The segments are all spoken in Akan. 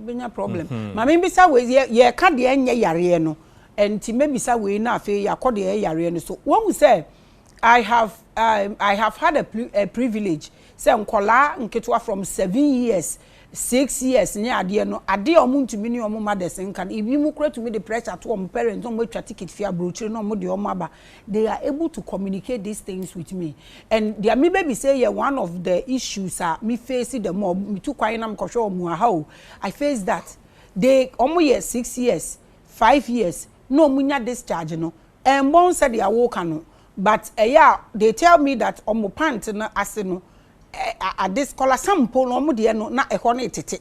bɛnya problem mhm. ma mebisa wei yɛka deɛ ɛnyɛ yareɛ no nti mɛbisa wei na afei yɛakɔ deɛ ɛyɛ yareɛ no so wɔhu sɛ i have um, i have had a, a privilege sɛ nkɔlaa nketewa from seven years Six years ne adeɛ no adeɛ a wɔn ntumi ne wɔn mothers nka no ebi mo kora tumi de pressure to wɔn parents na wɔn atwa ticket firi abrokyire na wɔn de wɔn aba they are able to communicate this things with me and deɛ me bɛ bisa yi yɛ one of the issues a me face da mu a me tu kwan na me kɔ hwɛ wɔn wɔ ha o I face that they wɔn yɛ six years five years na wɔn nya discharge no ɛnbɔn sɛdeɛ wo ka no but ɛyɛ a they tell me that wɔn pant no ase no Ade kɔlasam mpo no wɔn deɛ no na ɛhɔ no retete.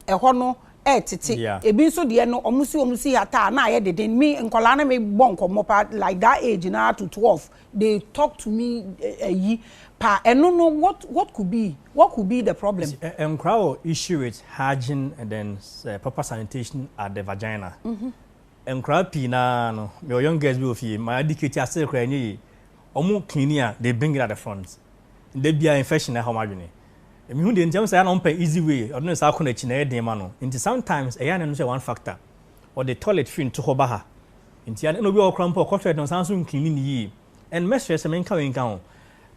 Ɛhɔ no retete. Ebi nso deɛ no wɔn si wɔn si hata a na ayɛ deden. Me nkwadaa ne me bɔ nkɔmmɔ paa like that age no ara to twelve they talk to me ayi paa ɛno no what what could be what could be the problem. Nkwadaa wɔ issue with hygiene and then proper sanitation at the vagina. Nkwadaa pii naa no me wɔ young girls bi wɔ fie my adikate asere koraa ɛnyɛ yie. Ɔmo clean a they bring it at the front. Da biaa infection na ɛha ɔmo adwene. Mehu deɛ nti a, wohu sɛ ɛyɛ a na ɔmo pɛ easy way, ɔde ne nsa akɔ n'akyi na ɛyɛ den ma no. Nti sometimes ɛyɛ a na ɛno nso yɛ one factor. Ɔde toilet firi ntohɔ ba ha. Nti a na obi wɔ hɔ koraa mpo a ɔkɔ toilet no ɔsan nso ncleane no yie. And mɛsrɛ sɛ menka wei nka ho,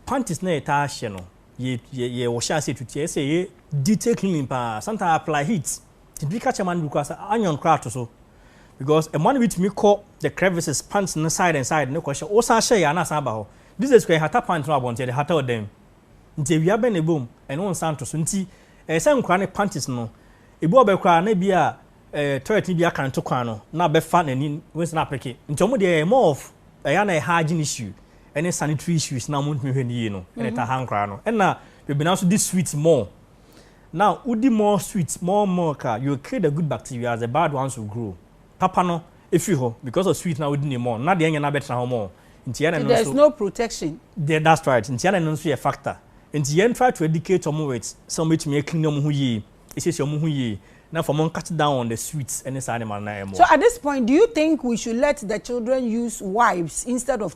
panties no a yɛtaa hyɛ no, yɛ yɛ yɛhyɛ aseɛ tutu a ɛsɛ sɛ yɛyɛ detail cleaning paa. Sometimes I apply heat Ebi ka kyerɛ mmoa no bi koraa sɛ, Onion koraa to so. Because mmoa no bi tumi kɔ the crevices, pants no side and side no kɔhyɛ. Wosan hyɛ yɛ a na asan aba hɔ. These days koraa yɛhata pant no wɔ abɔnten, yɛde hata ɔdan mu. Nti awia bɛn na ɛbɔ mu? Ɛno wo nsa nto so. Nti ɛyɛ sɛ nkwadaa no panties no, ebi wɔ bɛ koraa a na ebia eh, toilet no bi aka no to kwan no, na bɛfa n'ani, wei sɛ na apeke. Nti wɔn deɛ ɛyɛ more of ɛyɛ a na ɛyɛ hygiene issue ɛne sanitary issues na wɔntumi hwɛ no yie no ɛna ɛtaa ha nkwadaa no. Ɛna Bebena nso di sweet more Now wodi more sweet more milk a you kill the good bacteria as the bad ones will grow. Papa no firi hɔ because of sweet na wodi ne more no na deɛ ɛnyɛ no abɛtena hɔ more. Nti yɛn na ɛno nso. Nti there is no protection. Deɛ that's right. Nti yɛn na ɛno nso yɛ factor. Nti yɛn try to educate wɔn with sɛ wɔn bɛtumi a clean wɔn ho yie, asiesie wɔn ho yie na afei wɔn cut down on the sweet ɛne saa nneɛma no na ɛmmoa. So at this point do you think we should let the children use wipes instead of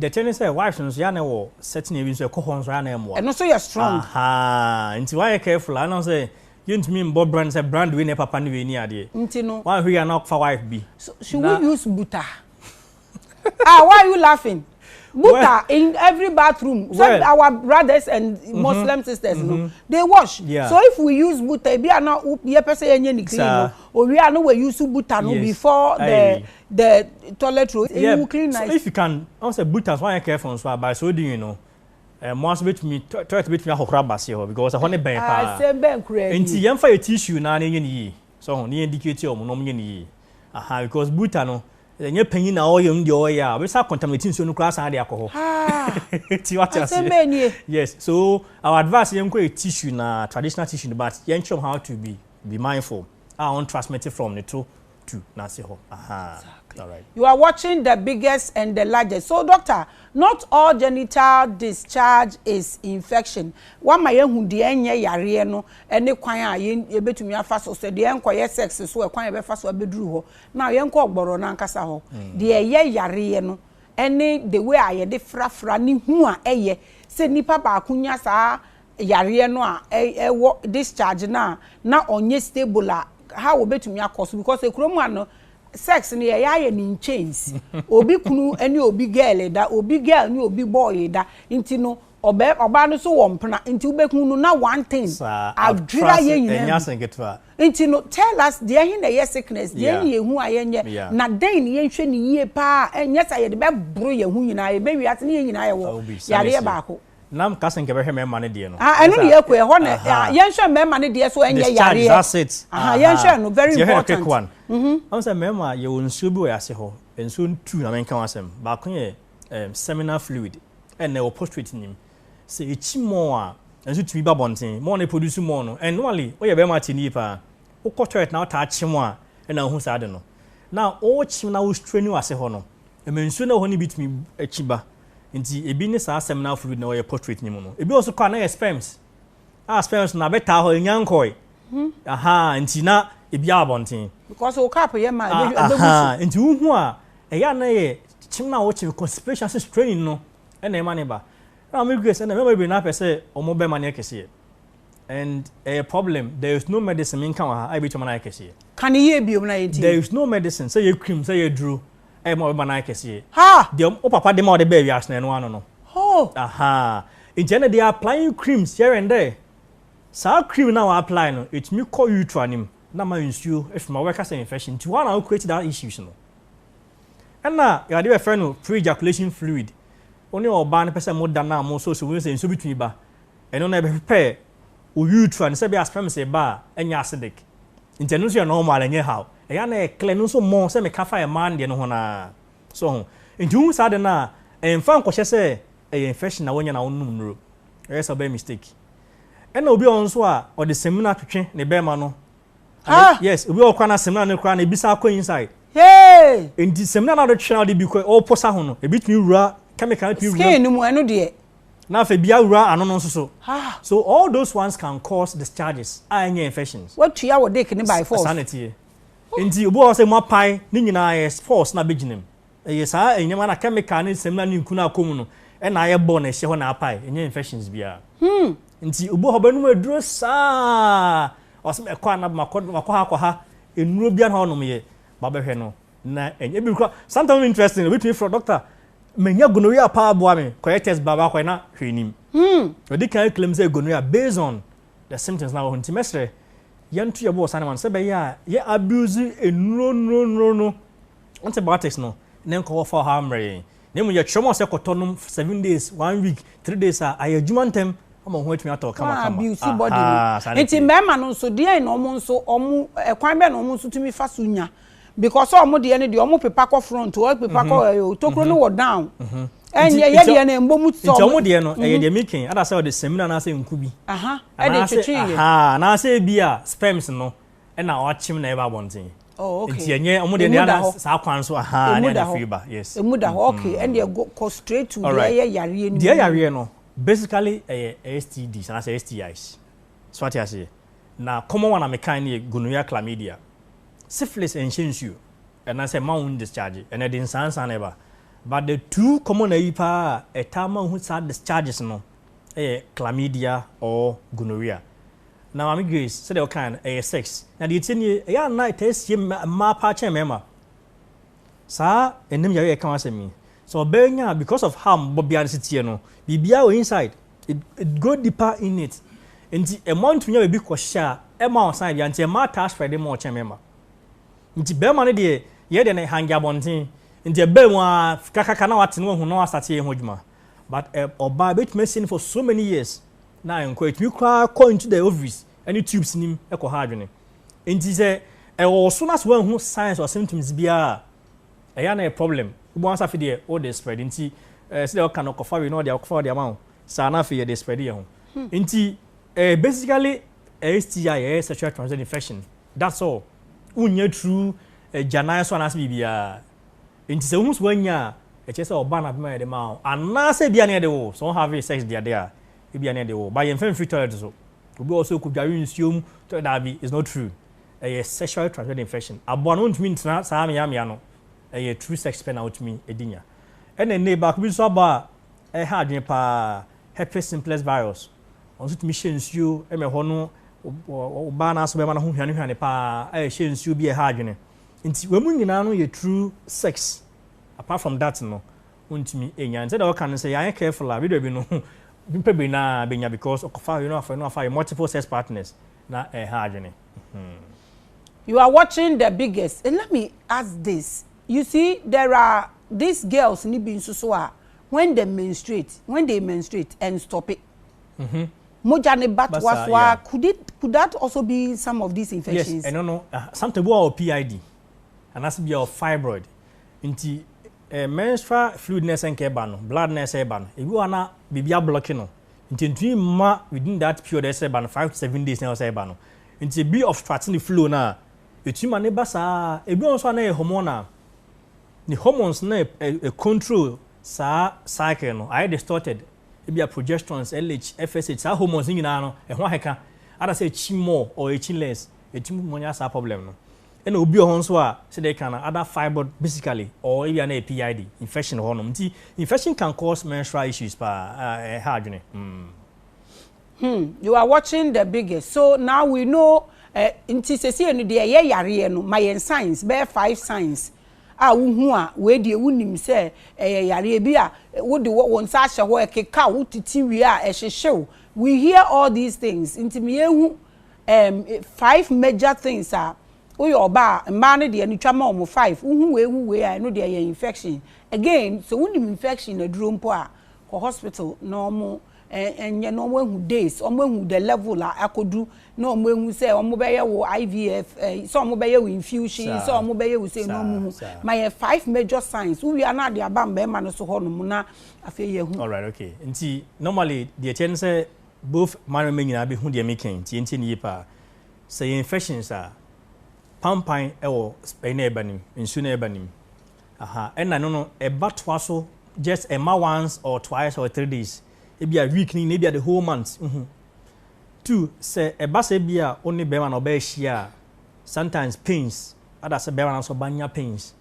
Deɛ ɛteɛ ne sɛ wives no nso yɛ a na ɛwɔ certain area nso ɛkɔ hɔ nso a na ɛmmoa. Ɛno nso yɛ strong. Ahaa nti wayɛ careful a ɛnam sɛ yɛntumi mmɔ brand sɛ brand wei na ɛpapa ne wei ne adeɛ. Nti no. Wanhwɛ yie a na ɔkɔfa wife bi. So should we use buta? Ah why are you laughing? Buta in every bathroom sɛ our brothers and Muslim sisters no they wash so if we use buta ebi a na yɛpɛ sɛ yɛnyɛ ne clean no owie a na wa use buta no before the The toilet roll, eyi wo clean nice. So if you can, ɔn sɛ buta nso anyɛ careful nso a, by so doing no, mmoa nso betumi, toilet betumi ahohoro aba aseɛ hɔ because ɛhɔ no bɛn paa. Asɛm bɛn koraa nie. Nti yɛn fa yɛ tissue naa na yɛnyɛ no yie, so ho, na yɛn educate wɔn na wɔn nyɛ no yie, aha, because buta no, ɛnyɛ panyin na ɔyɛ no deɛ ɔyɛ a, ɔbɛsan a contaminate nsuo no koraa asan de akɔ hɔ. Ti wate aseɛ. Asɛm bɛn nie. Yes, so our advice yɛn kɔ yɛ tissue naa, traditional tissue no, but yɛn kyerɛ wɔn how to be be mindful a wɔn transmit from ne to tu nase hɔ ahaa alright. You are watching the biggest and the largest so doctor not all genital discharge is infection wama yɛahu deɛ ɛnyɛ yareɛ no ɛne kwan a yɛbɛtumi afa so sɛ deɛ ɛnkɔyɛ sex so ɛkwan a yɛbɛfa so abɛduru hɔ now yɛnkɔ ɔgbɔrɔ no ankasa hɔ deɛ ɛyɛ yareɛ no ɛne the way a yɛde frafra ne hu a ɛyɛ sɛ nipa baako nya saa yareɛ no a ɛwɔ discharge no a na ɔnyɛ stable a how obetumi akɔ so because ekuro mu ha no sex no yɛyɛ ayɛ no in chains obi kunu ne obi girl da obi girl ne obi boy da nti no ɔbɛ ɔbaa no so wɔ mpena nti wobɛhu no na one thing adwira yɛ nyinaa nti no tell us deɛ he na ɛyɛ sickness deɛ ne yɛhu a yɛnyɛ na dɛn ne yɛnhwɛ ne yie paa ɛnyɛ sɛ yɛde bɛboro yɛn ho nyinaa yɛbɛwi ase ne yɛn nyinaa yɛwɔ yareɛ baako Na me ka se nka bɛhwɛ mɛma no deɛ no. Aha ɛno na yɛkɔ ɛhɔ na yɛnhwɛ mɛma no deɛ so ɛnyɛ yareɛ. That's it. Aha yɛnhwɛ no very important. Ti yɛhwɛ no quick one. Mhm. Ɔmo sɛ mɛma yɛwɔ nsuo bi wɔ yɛase hɔ. Nsuo no two na menka ho asɛm. Baako yɛ ɛɛm seminal fluid ɛna ɛwɔ postrate nim. Sɛ yɛkyi more a nso tumi ba bɔnten. More no produce more no and normally woyɛ bɛɛma ate nie paa. Wokɔ toilet na wotaa kyem a ɛna wohu saa ade no. Now wokyem na wo straini w'ase hɔ no Ɛma nsuo no a ɛwɔ hɔ no bi tumi akyi ba. Nti ebi ne saa asɛm no afroid na wɔyɛ portrait no mu no. Ebi wɔ so kɔ a na yɛ sperms. A sperms no abɛtaa hɔ, enya nkɔe. Hmm. Aha, nti na ebi a abɔnten. Because o cap yɛ ma ebi ebi gusu. Nti wohu a ɛyɛ a na yɛ kyem na wɔkyem constipation ase straining no ɛna ɛma ne ba. Na wɔn grace ɛna mɛma bebree na apɛ sɛ wɔn bɛma no yɛ kɛseɛ. And ɛyɛ problem, there is no medicine me nka wɔ ha a ɛbɛtumi ama no ayɛ kɛseɛ. Ka no yie biom na yɛntie. There is no medicine sɛ yɛ cream sɛ yɛ duro ɛyɛ ma ɔbɛma no ayɛ kɛseɛ. Ha! Deɛ wo papa de ma ɔde baa wiase no ɛno ano no. Hoo! Ahaa. Nti ɛnna they are applying creams here and there. Saa cream no a wɔ apply no ɛtumi kɔ utra no mu na ama nsuo ɛfiri mu a wobɛka sɛ infection nti woa na wo create that issues no. Ɛnna yɛwɔ adeɛ bɛfrɛ no pre-ejaculation fluid. Wo ne ɔbaa no pɛ sɛ moda no a mosɔɔsi wohu sɛ nsuo bi tumi ba. Ɛno na yɛbɛpɛ wo utra no sɛ ebia sperms reba a ɛnyɛ acidic nti ɛno nso yɛ normal ɛnyɛ haw. Ɛyɛ a na ɛyɛ clear ɛno nso more sɛ meka fa mmaa no deɛ no ho no ara so ho nti wohu saa ade no a ɛmfa nkɔhyɛ sɛ ɛyɛ infection na woanya na wonom nnuro ɛyɛ sɛ wobɛyɛ mistake. Ɛna obi wɔ hɔ nso a ɔde samina atwetwe ne bɛɛma no Haa! Yes obi wɔ hɔ koraa na samina no koraa na ebi san kɔ inside Hey! nti samina no a wode twetwe na wode bi kɔ ɔposa ho no ebitumi wura chemical no tumi wura Skin no mu ɛno deɛ Na afei bia wura ano no nso so. So all those ones can cause discharges a ɛnyɛ infections? Watua wo dick no by force. Saa na ɛteɛ. Nti obi wɔ hɔ sɛ mu apae ne nyinaa ɛyɛ force na abɛgyina mu. Ɛyɛ saa nneɛma na chemical ne nsɛm no a ne nku no akɔ mu no ɛna ayɛ bɔ na ɛhyɛ hɔ na apae. Ɛnyɛ infections biara. Nti obi wɔ hɔ ɔbɛnom aduro saa a ɔsɛ mɛkɔ anaa makɔ ha kɔ ha nnuro biara na ɔnom yɛ ba bɛhwɛ no. Na ɛnyɛ bi kora. Sometimes no interesting, obi tumi frɛ doctor, manya gonorrhea paa boa me, kɔyɛ test baa baako na hwee nim. Hmm. Ɔdi kan claim sɛ gonorrhea based on the symptoms na wɔ ho nti mɛsrɛ yɛnto yɛbo wɔ saa nneɛma no sɛ bɛyɛ a yɛ abuse nnuro nnuro nnuro no antibiotics no ne nkɔwɔ fa ɔha mmerɛ yɛn na emu yɛkyerɛ mu sɛ kɔtɔ nom seven days one week three days a ayɛ adwuma ntɛm ama ho atumi atɔ kama kama. Abuse body no. Nti mmarima no nso deɛ na wɔn nso wɔn ɛkwan bɛn na wɔn nso tumi fa so nya. because ɔmo deɛ no deɛ ɔmo pepa kɔ front ɔmo pepa kɔ ɛyɛ o tokuro no wɔ down ɛnyɛ yɛ deɛ no ɛmbɔ mu tɔ nti ɔmo deɛ no ɛyɛ deɛ mi kɛn adasɛ ɔde sɛmina anaasɛ nku bi ɛde twetwe yɛ anaasɛ ebi a sperms no ɛna ɔakyem na ɛba abɔnten nti ɛnyɛ ɔmo deɛ deɛ no saa kwan so ahaa ne ɛna firi ba yes emu da hɔ okay ɛdeɛ kɔ straight to deɛ ɛyɛ yareɛ no deɛ yareɛ no basically ɛyɛ STDs anaasɛ STIs so ate aseɛ na common one a mekan no yɛ gonorrhea chlamydia Syphilis nhyɛ nsuo ɛna sɛ mma wo ndischarge ɛna ɛde nsansa na ɛba but the two common ayi paa a ɛtaa ma wohu saa discharges no ɛyɛ chlamydia or gonorrhea na maame Grace sɛdeɛ ɔkaeɛ no ɛyɛ sex na deɛ ɛtie nie ɛyɛ a na ɛtaa sie mmaa paa kyɛn mmarima Saa anim yare a yɛka ho asɛm yi, sɛ ɔbaa nya a because of how bɔbea no si teɛ no, biribiara wɔ inside, it it go deeper in it. Nti mmoa no tumi nya baabi kɔhyɛ a, ɛmma ɔsan biara. Nti mmaa taa spread more kyɛn mmarima. Nti barima no deɛ, yɛn deɛ no hange abɔnten. Nti ɛbaa mu ara, kakraka na wate na wahu na wasate ayɛ ho adwuma. But ɔbaa, ɛbɛtumi asie no for so many years na ɛnkɔ. Ɛtumi koraa kɔ into the ovaries. ne tubes nim kɔ ha adwene. Enti sɛ ɛwɔ wo so na sɛ woanhu signs or symptoms biara a, ɛyɛ a na ɛyɛ problem. Wobɔ ansa afei deɛ wode spread nti eh, sɛdeɛ ɔka no kɔfa wei na ɔde akɔfa ɔde ama wo saa na afei yɛde spread yɛ ho. Hmm. Nti eh, basically eh, STI ɛyɛ eh, sexual transmitted infection that's all. Wonnya true eh, gyanan so anaasɛ biribiara. Nti sɛ wohu so woanya a ɛkyerɛ sɛ ɔba no abɛma yɛde ma wo anaasɛ bia ne yɛde wo sɛ ɔhave sex deade a ebia na ɛde wɔ ba yɛmfa mfiri toilet so obi wɔ sɛ ɔkɔdware nsuo mu toilet daabi it's not true ɛyɛ sexually transmitted infection aboa no ntumi ntena saa meamea no ɛyɛ true sex pɛ na wotumi ɛdi nya ɛna nne baako bi nso abɔ a ɛha adwene paa herpes simplex virus ɔno nso tumi hyɛ nsuo ɛmɛ hɔ no ɔbaa no aso bɛma no ho hwane hwane paa a ɛhyɛ nsuo bi ɛha adwene nti wɔn mu nyinaa no yɛ true sex apart from that no Ontumi nnya no. Sɛdeɛ wɔka no sɛ yɛanyɛ careful a video bi no nipa baanu ara bɛnya because ɔkɔfa wei na wafa wei na wafa wei multiple sex partners na ɛha adwene. Hmm. You are watching the biggest and let me ask this you see there are these girls no bi nso so a when they menstruate when they menstruate and stop it Mhm. mogya no ba Basa, toa so a yeah. could it could that also be some of these Yes, infections ɛno no ah, sometimes bi wɔ hɔ a wɔ PID anaasɛ bi a wɔ fibroid nti Menstrual fluid na ɛsɛ nka ɛba no, blood na ɛsɛ ɛba no, ebi wɔ hɔ a na biribi ablɔke no nti ɛntumi mma within that period a ɛsɛ ɛba no, five to seven days na ɛwɔ sɛ ɛba no. Nti ebi obstruct ne flow no a, ɛtumi ma no ba saa ara. Ebi wɔ hɔ nso a na ɛyɛ hormonal, ne hormones no na ɛcontrol saa cycle no, ayɛ distorted. Ebia progesterones, LH, FSH, saa hormones no nyinaa no, ɛho akeka, either sɛ ɛkyi more or ɛkyi less, ɛtumi ma ɔnya saa problem no. Ɛna obi wɔ hɔ nso a sɛdeɛ ɛka no other fibroid basically or ebia na ɛyɛ PID infection wɔ hɔ nom nti infection can cause menstrual issues paa a ɛha adwene hmm. Hmm you are watching the biggest so now we know eh, nti sɛsie no deɛ ɛyɛ yareɛ no ma yɛn signs bɛyɛ five signs a wohu a wei deɛ wonim sɛ ɛyɛ yareɛ bi a wode wɔn nsa ahyɛ hɔ ɛkeka wo titi wie a ɛhyehyew we hear all these things nti meyɛ hu Erm five major things a woyɛ ɔbaa a mmaa no deɛ no twa ma wɔn five wohu wei hu wei a ɛno deɛ ɛyɛ infection again sɛ wonim infection aduro mpo a kɔ hospital na wɔn nyɛ na wɔn ahu days wɔn ahu the level a akɔdu na wɔn ahu sɛ wɔn bɛyɛ wo IVF ɛɛ sɛ wɔn bɛyɛ wo infusion sɛ wɔn bɛyɛ wo sɛ na wɔn hu ma yɛ five major signs wowia na ade aba mmarima no so hɔ nom na afei yɛ hu. Alright okay nti normally deɛ ɛkyɛ no sɛ Both mmarima nyinaa bɛhu deɛ meka yi, ntie ntie no yie paa. Sɛ ɛyɛ infections a, pampan wɔ ɛyi na ɛba nim, nsuo na ɛba nim. Aha, ɛna no no ɛba toa so just ɛma once or twice or three days. Ebi a week no nyinaa, ebi a the whole month, uhu. Two, sɛ ɛba sɛ ebi a wo ne bɛrima na ɔbɛ ahyia a, sometimes pains, ada sɛ bɛrima na sɛ ɔba nya pains.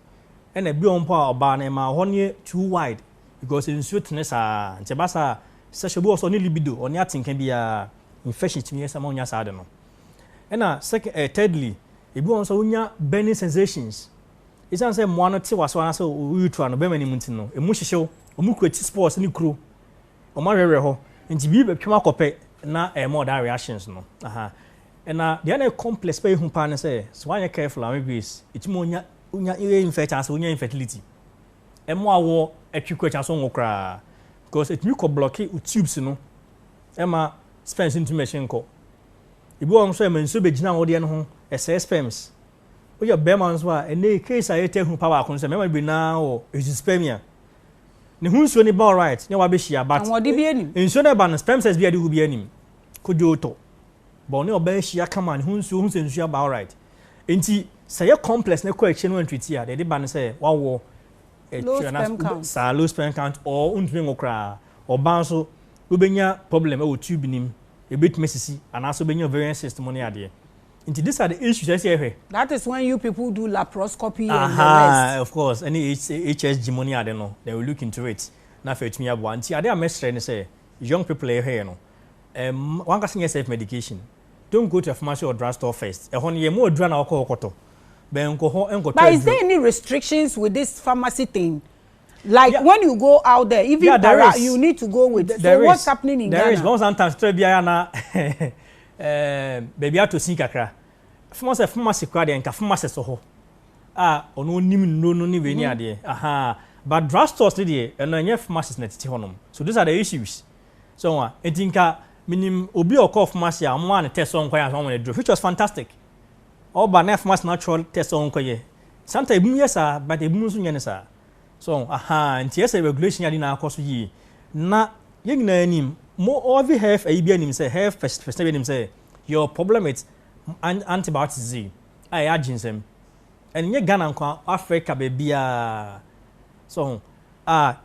Ɛna ebi wɔ mpo a ɔbaa no ɛma hɔ no yɛ too wide because nsuo tene saa, nti ɛba saa a, Sɛ hyɛ obi wɔ sɛ ɔne libido, ɔne atenka biara a, infection tumi yɛ saa ma onya saa ade no. Ɛna sɛk ɛɛ thirdly, ebi wɔ hɔ nso a wonya burning sensations. Esiane sɛ mmoa no te w'aso anaasɛ wo urethra no, bɛrima no mu nti no, emu hyehyew. Wɔn kura ti spores ne kuro. Wɔn awerɛwerɛ hɔ. Nti biribi bɛtwam akɔ pɛ na ɛma ɔdaa reactions no. Aha. Ɛna deɛ na ɛyɛ complex paa ehu paa ne sɛ, sɛ woanyɛ careful a, Mame Grace, etumi ma onya onya ear infect anaasɛ onya infertility. Ɛma awoɔ twe kɔ akyi anaasɛ ɔnwo koraa. Because ɛtumi kɔ blocke wo tubes no ɛma sperms ntumi bɛhye nkɔ. Ebi wɔ hɔ nso a ɛma nsuo bɛgyina wo deɛ no ho, ɛsɛe sperms. Woyɛ barima nso a, ɛnnɛ yi case a yɛtaa hu paa baako ne sɛ mmarima no bebree no ara wɔ azoospermia. Ne ho nsuo no ba alright ne wabɛhyia but Ahoɔden biara nnim. nsuo no a ɛba no sperm cells biara a ɛde gu biara nnim. Kodwo tɔ. But ɔne ɔbaa ahyia kama ne ho nsuo, wohu sɛ nsuo aba alright. Enti sɛ ɛyɛ complex na ɛkɔ akyire na woantreat a, deɛ ɛde ba ne sɛ woawoɔ. Low sperm count. Saa low sperm count or wontumi nwo koraa. Ɔbaa nso, wobɛnya problem ɛwɔ tube nim, ɛbɛtumi asisi anaasɛ wobɛnya ovarian cyst mu ne adeɛ. Nti these are the issues ɛsɛ yɛhwɛ. That is when you people do laparoscopy and the rest. Aha, of course, ɛne HSG mu ne ade no, they will look into it na afei atumi aboa. Nti adeɛ a mɛsrɛ ne sɛ young people a yɛhwɛ yɛ no, um, wankasa nyɛ self medication. Don't go to Afomase or drug store first, ɛhɔ no yɛmma adura na wokɔ hɔ kɔtɔ, bɛn nkɔ hɔ nkɔtɔ aduro. But is there any restrictions with this pharmacy thing? Like yeah. when you go out there, even yeah, there para, is. you need to go with. There so is. what's happening in there Ghana? There is, but sometimes try be na eh, baby ato sin kakra. Pharmacy, pharmacy kura de nka pharmacy so hɔ. Ah, ono nim no no ni we ni mm-hmm. adeɛ. Aha, but drugstores ni deɛ, ɛno ɛnyɛ pharmacies na tete hɔ nom. So these are the issues. So ho a, enti nka minim obi a ɔkɔɔ pharmacy a wɔmaa no test sɛ ɔnkɔyɛ ansa wɔama no aduro, which was fantastic. Ɔba na pharmacy no atwerɛ test sɛ ɔnkɔyɛ. Sometimes ebinom yɛ saa, but ebinom nso nyɛ no saa. So ho, ahaa, nti ɛsɛ regulation ade nyinaa kɔ so yie. Na yɛn nyinaa nim, mo ɔvi health ayi biara nim sɛ, health person biara nim sɛ, yɛwɔ problem with antibiotics dzi, a ɛyɛ agyensɛm. Ɛnyɛ Ghana nko ara, Africa baabiara. So ho, a.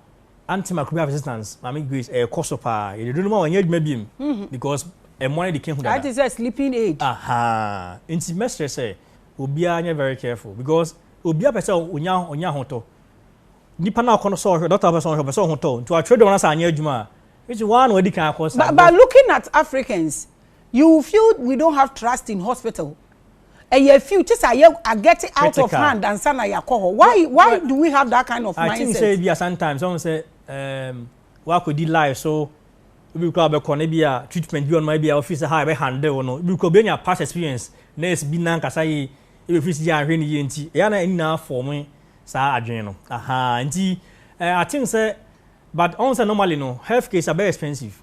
Aunty Makubi absistance Maame Grace ɛyɛ kɔ so paa yɛde duru no ma wɔnyɛ adwuma biom because ɛmoa no de ka hu dada. Ayɛ te sɛ sleeping aid. Ahaa nti mɛsrɛ sɛ obiara nyɛ very careful because obiara pɛ sɛ onya onya ahotɔ nipa no a ɔkɔ no sɛ ɔhwɛ doctor pɛ sɛ ɔhwɛ ɔpɛ sɛ ɔhotɔ nti watwerɛ dɔm no sɛ anyɛ adwuma a which waa na wadi kan akɔ saa. But but looking at Africans you will feel we don't have trust in hospital. ɛyɛ few te sɛ ayɛ a get out of hand ansa na yɛakɔ hɔ why why do we have that kind of mindset. I think sɛ ebi a sometimes ɔn sɛ ɛɛm um, wakɔdi life so ebi kura bɛkɔ no ebi a treatment bi ɔnoma ebi a ɔfi sɛ ha ɛbɛ handle no ebi kura obi anya past experience nurse bi nankasa yi ebi fi si ahwɛ ne yie nti ɛyɛ na ɛni na afɔ mo saa adwene no aha nti ɛɛ I think sɛ but ɔn sɛ normally no health case abɛ expensive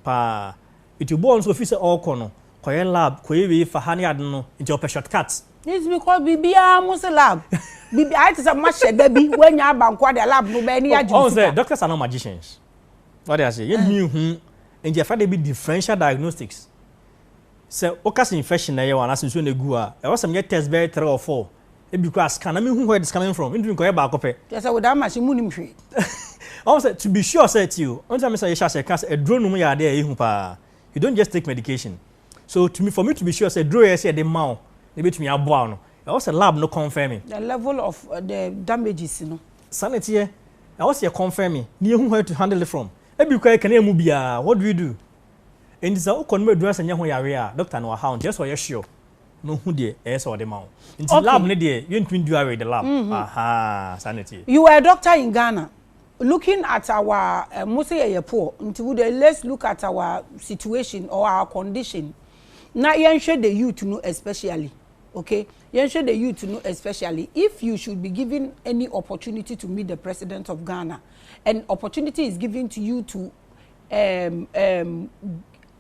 paa eti obi ɔn so ofi sɛ ɔkɔ no Kɔyɛ lab, kɔyɛ wei fa ha ne ade no, nti ɔpɛ shortcut. This because biribiara mo se lab, biribi ayɛ te sɛ mo ahyɛ da bi, woanya aba nko ara deɛ lab no wobɛyɛ ne yɛ agye wo sika. Ɔhu sɛ doctors are not magicians, wate aseɛ, yɛntumi nhu, nti yɛfrɛ ade bi differential diagnostics, sɛ woka sɛ infection na ɛyɛ wo anaasɛ nsuo na ɛgu wo a, ɛwɔ sɛ meyɛ test bɛyɛ three or four, ɛbi koraa scan, na menhu where it is coming from, mentumi nkɔyɛ baako pɛ. Kyerɛ sɛ without machine monim hwee. Ɔhu sɛ to be sure sɛ, tie o, wonte sɛ me sɛ yɛhyɛ aseɛ ka sɛ aduro nom yɛ adeɛ a ɛyɛ hu paa, you don't just take medication so to me for me to be sure sɛ duro yɛ sɛ yɛde ma wo na ebetumi aboa no ɛwɔ sɛ lab no confirm me. the level of uh, the damages no. saa na ɛteɛ ɛwɔ sɛ yɛ confirm me na yɛhu where to handle it from ebi kura ɛkɛnɛ mu biara what do we do nti sɛ wokɔ no mu adura sɛ nyɛ ho yareɛ a doctor no wahaw nti ɛsɛ ɔyɛ sure na ohu deɛ ɛyɛ sɛ ɔde ma wo nti lab ne deɛ yɛntumi du away the lab mm-hmm. aha saa na ɛteɛ you were a doctor in Ghana Looking at our eh, mo se yɛyɛ poor, nti wo dɛ let's look at our situation or our condition na yɛnhwɛ the youth no especially okay yɛnhwɛ the youth no especially if you should be given any opportunity to meet the president of Ghana and opportunity is given to you to um, um,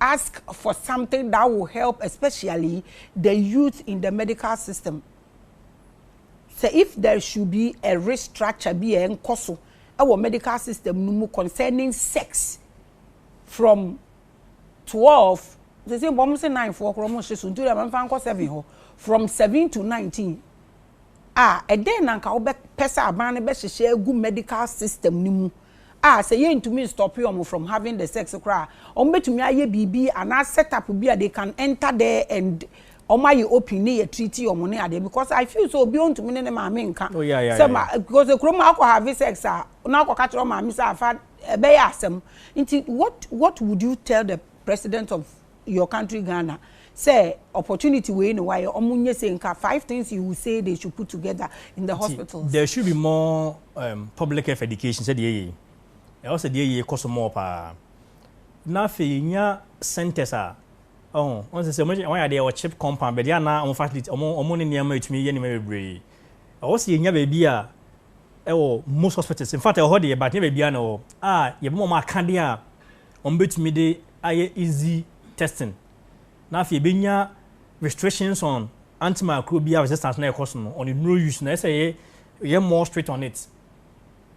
ask for something that will help especially the youth in the medical system Sɛ if there should be a restructure bi a ɛnkɔ so wɔ medical system no mu concerning sex from twelve, seesei mpo wɔse nine foɔ koraa wɔnhye so nti wode ma memfa nkɔ seven hɔ, from seven to nineteen a, ɛdɛn na anka wobɛpɛ sɛ aban no bɛhyehyɛ agu medical system no mu a sɛ yɛntumi nstɔpe wɔn from having the sex koraa a, wɔn bɛtumi ayɛ biribi anaa set up bi a they can enter there and wɔn ayɛ open ne yɛ treat wɔn ne adeɛ because I feel sɛ obiara ntumi ne ne maame nka Oh yeah yeah sɛ yeah. ma because kuro mu a akɔ have sex a na akɔ ka kyerɛ wɔn maame sɛ afa ɛbɛyɛ asɛm nti what what would you tell the president of your country Ghana sɛ opportunity wei na wayɛ ɔmo nyɛ sei nka five things you will say they should put together in the hospitals. There should be more um, public health education sɛ deɛ yɛ yi ɛwɔ sɛ deɛ yɛ kɔ so mɔɔ paa na afei yɛnya centers a ɔho ɔn sɛ sɛ wɔn yɛ adeɛ wɔ chip compound baabi a na wɔn facility wɔn wɔn ne nneɛma ɛtumi yɛ nneɛma bebree ɛwɔ sɛ yɛnya baabi a ɛwɔ most hospitals in fact ɛwɔ hɔ deɛ but nyɛ baabi a na ɛwɔ a yɛbɛma wɔn akadeɛ a wɔbɛtumi de ayɛ easy testing na afei ɛbɛnya restrictions on antimicrobial bi a resistance na ɛkɔ so no ɔne nnuro use na ɛsɛ yɛ yɛ more strict on it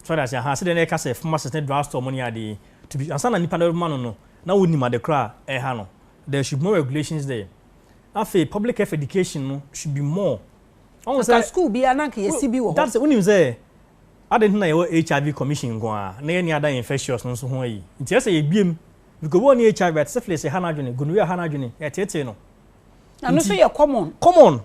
so that's aha sɛ deɛ na ɛka sɛ pharmacist ne drug store mo ne adeɛ to be ansa na nipa na ɛbɛma no no na wɔnim ade kora a ɛha no there should be more regulations there afei public health education no should be more ɔn sɛ school bi ananka yɛsi bi wɔ hɔ that's wonim sɛ Adɛn nti na yɛwɔ HIV Commission nko ara na yɛnni adan infectious no nso ho ayi? Nti ɛsɛ sɛ yɛbue mu. Because wɔn nni HIV but syphilis ɛha no adwene, gonorrhea ɛha no adwene, yɛteetee no. Na ɛno nso yɛ common. Common.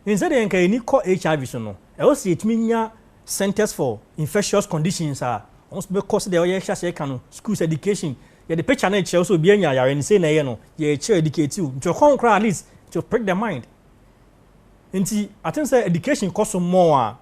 Nti sɛdeɛ nka yɛn ani kɔ HIV so no, ɛwɔ sɛ yɛtumi nya centres for infectious conditions a wɔn nso bɛkɔ sɛdeɛ ɔyɛ hyɛ aseɛ ka no, schools, education, yɛde picture no rekyerɛ wo sɛ obi anya yare no sei na ɛyɛ no, yɛrekyerɛ, educate wo. Nti ɔkɔ ho koraa at least to prick the mind. Nti I think sɛ education kɔ so more a,